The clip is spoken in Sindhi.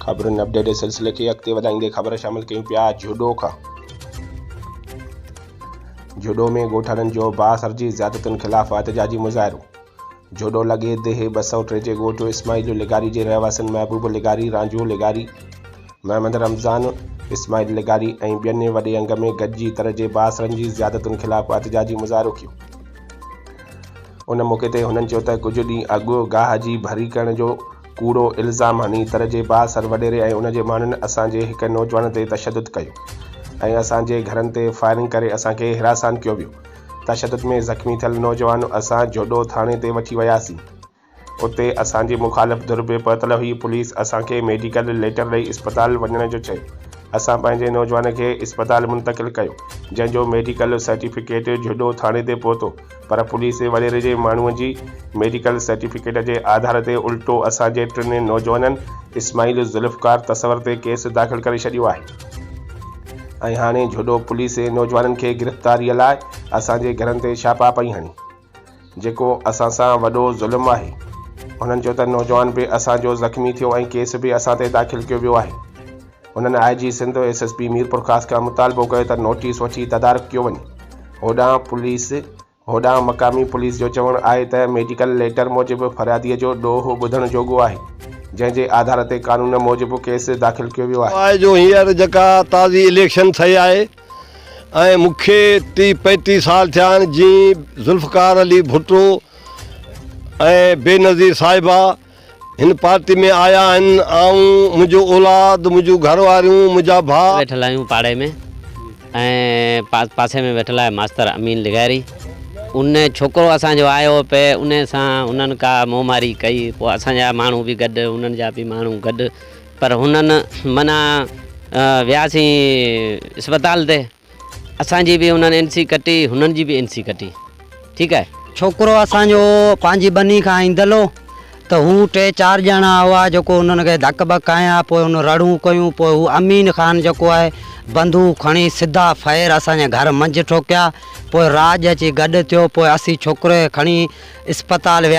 خبرن اپڊيٽ جي سلسلي کي اڳتي وڌائيندي خبر شامل ڪيون پيا جهوڏو کان جهوڏو ۾ ڳوٺاڻن جو بااثر جي زيادتين خلاف احتجاجي مظاهرو جوڏو لڳي ديهي ٻه سؤ ٽي جي ڳوٺ اسماعيل لغاري جي رهواسين محبوب لغاري رانجهو لغاري محمد رمضان اسماعيل لغاري ۽ ٻين وڏي انگ ۾ گڏجي تر جي باثرن جي زيادتن خلاف احتجاجي مظاهرو ڪيو ان موقعي تي هنن چيو ته ڪجهه ڏينهن اڳ گاهه جي ڀري ڪرڻ جو ڪوڙو الزام هني تر جي با سر وڏيري ۽ ان جي ماڻهن اسان جي هڪ نوجوان تي تشدد ڪيو ۽ اسان جي گهرن تي فائرنگ ڪري اسان کي حراسان ڪيو ويو تشدد ۾ زخمي ٿيل نوجوان اسان جوڏو ٿاڻي تي وٺي وياسين اتي اسان جي مخالف ڌر به پهتل هئي پوليس اسان کي ميڊيڪل ليٽر ڏئي اسپتال وڃڻ جو چيو اسان پنهنجي نوجوان کي اسپتال منتقل ڪيو جنهن جو ميڊيڪل سرٽيفڪيٽ جوڏو ٿاڻي تي پهتو پر پوليس وڏيري جي ماڻهوء جي ميڊيڪل سرٽيفڪيٽ جي آڌار تي الٽو اسان جي ٽن نوجوانن اسماعيل ذوالفقار تصور تي ڪيس داخل ڪري ڇڏيو آهي ۽ هاڻي جهڏو پوليس نوجوانن کي گرفتاريء لاء اسان جي گهرن تي ڇاپا پئي هڻي جيڪو اسان سان وڏو ظلم آهي هنن چيو ته نوجوان به اسان جو زخمي ٿيو ۽ ڪيس به اسان تي داخل ڪيو ويو آهي هنن I G Sindh ۽ S S P Mirpurkhas کان مطالبو ڪيو ته نوٽيس وٺي تدارڪ ڪيو وڃي. هوڏانهن پوليس هوڏانهن مقامي پوليس جو چوڻ آهي ته ميڊيڪل ليٽر موجب فريادي جو ڏوهه ٻڌڻ جوڳو آهي، جنهن جي آڌار تي قانون موجب ڪيس داخل ڪيو ويو آهي. آء جو هينئر جيڪا تازي اليڪشن ٿئي آهي ۽ مون کي ٽيهه پينٽيهه سال ٿيا آهن جئين ذوالفقار علي ڀٽو ۽ بينظير صاحبه هن پارٽي ۾ آيا آهن آئون، منهنجو اولاد، منهنجون گهر واريون، منهنجا ڀاء. ويٺل آهيون پاڙي ۾ ۽ پاسي ۾ ويٺل آهي ماستر امين لغاري ان ڇوڪرو اسان جو آيو پئي ان سان انهن ڪا منهن ماري ڪئي پوء اسان جا ماڻهو به گڏ انهن جا به ماڻهو گڏ پر هنن منع وياسين اسپتال تي اسان جي به انهن اين سي ڪٽي هنن جي به اين سي ڪٽي ٺيڪ آهي. ڇوڪرو اسان جو پنهنجي ٻني کان ايندل هو ته هو ٽي چار ڄڻا هئا جيڪو انهن کي ڌڪ ٻڪ هنيا پوء هن رڙون ڪيون پوء هو امين خان جيڪو آهي بندوق کڻي سڌا ڦير اسان جي گهر منجهه ٺوڪيا پوء راڄ اچي گڏ ٿيو پوء اسين ڇوڪري کي کڻي اسپتال ويا